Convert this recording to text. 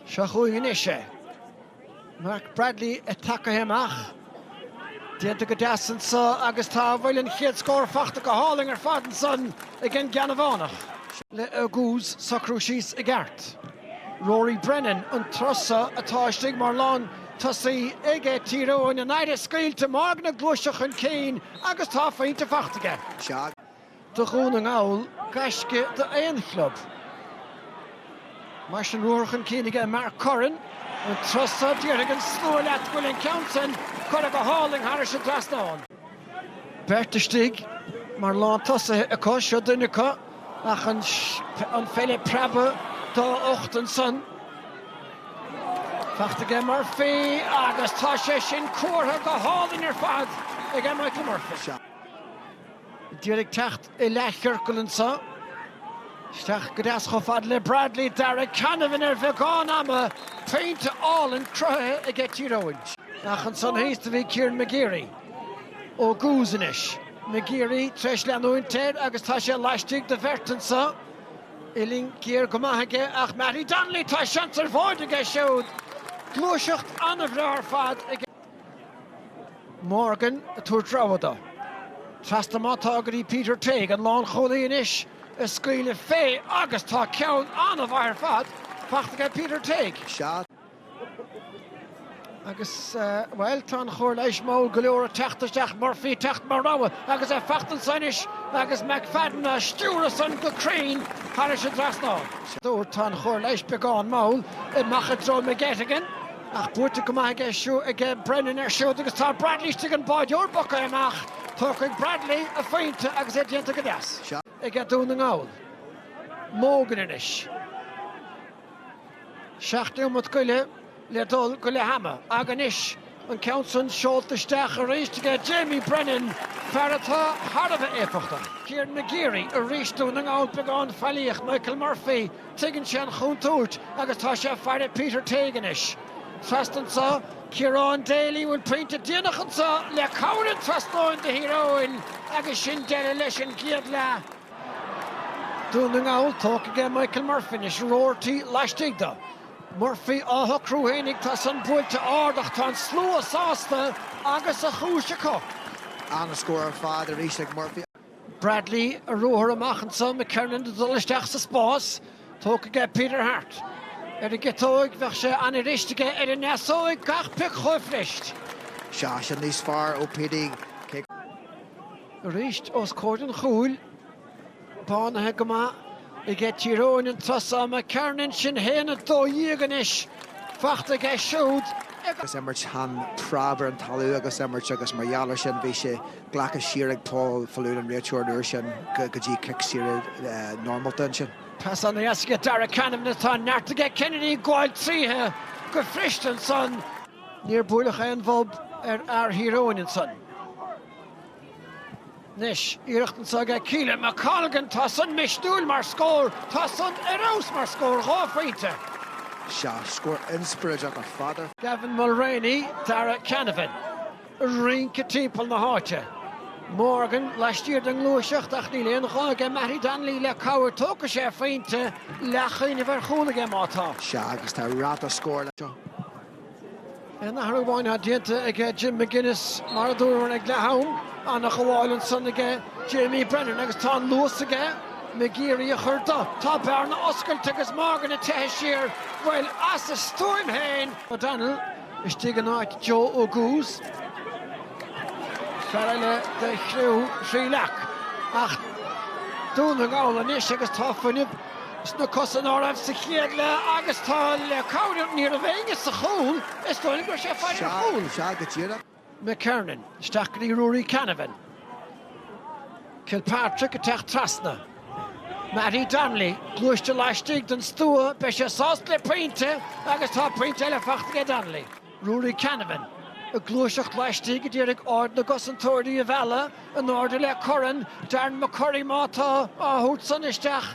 Seo chugainn anois é. Mark Bradley ag tagtha amach. Déanta go deas anseo agus tá, an bhfuil an chéad scór faighte go hálainn ar fad ansan ag an gCeannabhánach. Le hEoghan ag socrú síos i gceart. Rory Brennan an tráth seo atá istigh mar lán tosaí ag Tír Eoghain. An aire scaoilte, Maguire ag gluaiseacht chun cinn agus tá a phointe faighte aige. do Dhún na nGall, gaisce d'aon chlub. Mar sin ruathar chun cinn aige Mark Curran. An tráth seo, déarfaidh an slua leat go bhfuil an ceann sin curtha go hálainn thar an trasnán. Beirt istigh mar lántosaithe acu, seo duine acu ach an pheil ag preabadh dá ucht ansan. Faighte aige Murphy agus tá sé sin curtha go hálainn ar fad ag Michael Murphy. Díreach ag teacht i leathchiorcal anseo. Isteach go deas chomh fada le Bradley, Darragh Canavan ar bheagán ama, pointe álainn cruthaithe aige Tír Eoghain. Ach ansan thíos a bhí Kieran McGeary fógartha anois. McGeary tar éis leanúint air agus tá sé laistigh de bheirt anseo. Uillinn ghéar go maith aige ach Mattie Donnelly tá seans ar phointe aige siúd. Gluaiseacht an-bhreá ar fad aige. Morgan ag tabhairt rogha dó. Trasna má tá go dtí Peter Tague, an lánchúlaí anois, ag scaoileadh fé agus tá ceann an-mhaith ar fad faighte aige Peter Tague. Sea, agus, bhuel, tá an chabhair leis mall go leor ag teacht isteach, Murphy ag teacht mar rogha agus é faighte anseo anois agus McFadden á stiúradh san go cruinn thar an trasnán. Sa deireadh, tá an chabhair leis beagán mall, amach i dtreo McGettigan. Ach buaite go maith aige Brennan air siúd agus tá Bradley istigh an báireoir tagtha amach. Tógfaidh Bradley a phointe agus é déanta go deas. aige Dún na nGall. Mogan anois. Seacht nóimeat go leith le dul go leath ama. Agus anois an ceann san seolta isteach arís aige Jamie Brennan, fear atá thar a bheith éifeachtach. Kieran McGeary arís Dún na nGall beagán faillíoch Michael Murphy. Tuigeann sé an chontúirt agus tá sé ag faire Peter Tague anois. Trasna anseo, Kieran Daly bhfuil pointe déanach anseo le cabhair an trasnáin do Thír Eoghain agus sin deireadh leis an gcéad leath. Dún na nGall tógtha aige Michael Murphy anois, Roarty laistigh dó. Murphy á shocrú féinig, tá san buailte ard ach tá an slua sásta agus a chúis acu. Ana-scór ar fad arís ag Murphy. Bradley ar ruathar amach anso, McKernon ag dul isteach sa spás, tógtha aige Peter Harte. Ar an gciotóig, bheadh sé an-fhuirist aige ar an ndeasóig, gach pioc chomh fuirist. Seo sin níos fearr ó Petey, cé go. Arís os comhair an chúil, bánaithe go maith aige Tír Eoghain an tráth so, McKernon, sin a haon a dó dhéag anois fachta aige siúd ag. Agus imirt an preab ar an talamh agus imirt agus mar gheall ar sin bhí sé. Glactha siar ag Paul Faloon an réiteoir an uair sin go dtí cic saor normálta ansin. Pas aníos aige Darragh Canavan atá neart aige Kennedy gabháil tríothu go fuirist ansan. Níor buaileadh aon bhob ar fhear Thír Eoghain ansan. Anois, iarracht anseo aige Caolan McColgan tá san misniúil mar scór, tá san ar fheabhas mar scór, dhá phointe. Sea, scór inspioráideach ar fad. Gavin Mulreany, Darragh Canavan. rince timpeall na háite. Morgan laistiar den ngluaiseacht ach níl aon ghá aige Mattie Donnelly le cabhair tógfaidh sé a phointe leathchuimhneamh ar chúl aige má tá. Sea agus tá ráta scóir leis seo. Aon athrú amháin atá déanta ag Jim McGuinness mar a dúramar ag leath-am, an-ghabháil ansan aige Jamie Brennan agus tá an luas aige McGeary a chur de. Tá bearna oscailte agus Morgan ag teitheadh siar, bhuel as a stuaim féin! O'Donnell. istigh in áit Joe Oguz, fear eile de chriú Thrí Leac. Ach Dún na nGall anois agus tá fuinneamh sna cosa ná raibh sa chéad leath agus tá le cabhair, ní raibh éinne sa chúl, is dóigh gur sé fear ar chúl. McKernan, isteach go dtí Ruairí Canavan. Kilpatrick ag teacht trasna. Mattie Donnelly, gluaiste laistigh den stua, beidh sé sásta le pointe agus tá pointe eile fachta aige Donnelly. Ruairí Canavan, ag gluaiseacht laistigh, ag iarraidh aird na gcosantóirí a mhealladh in airde le Curran, Darren McCurry má tá á thabhairt san isteach,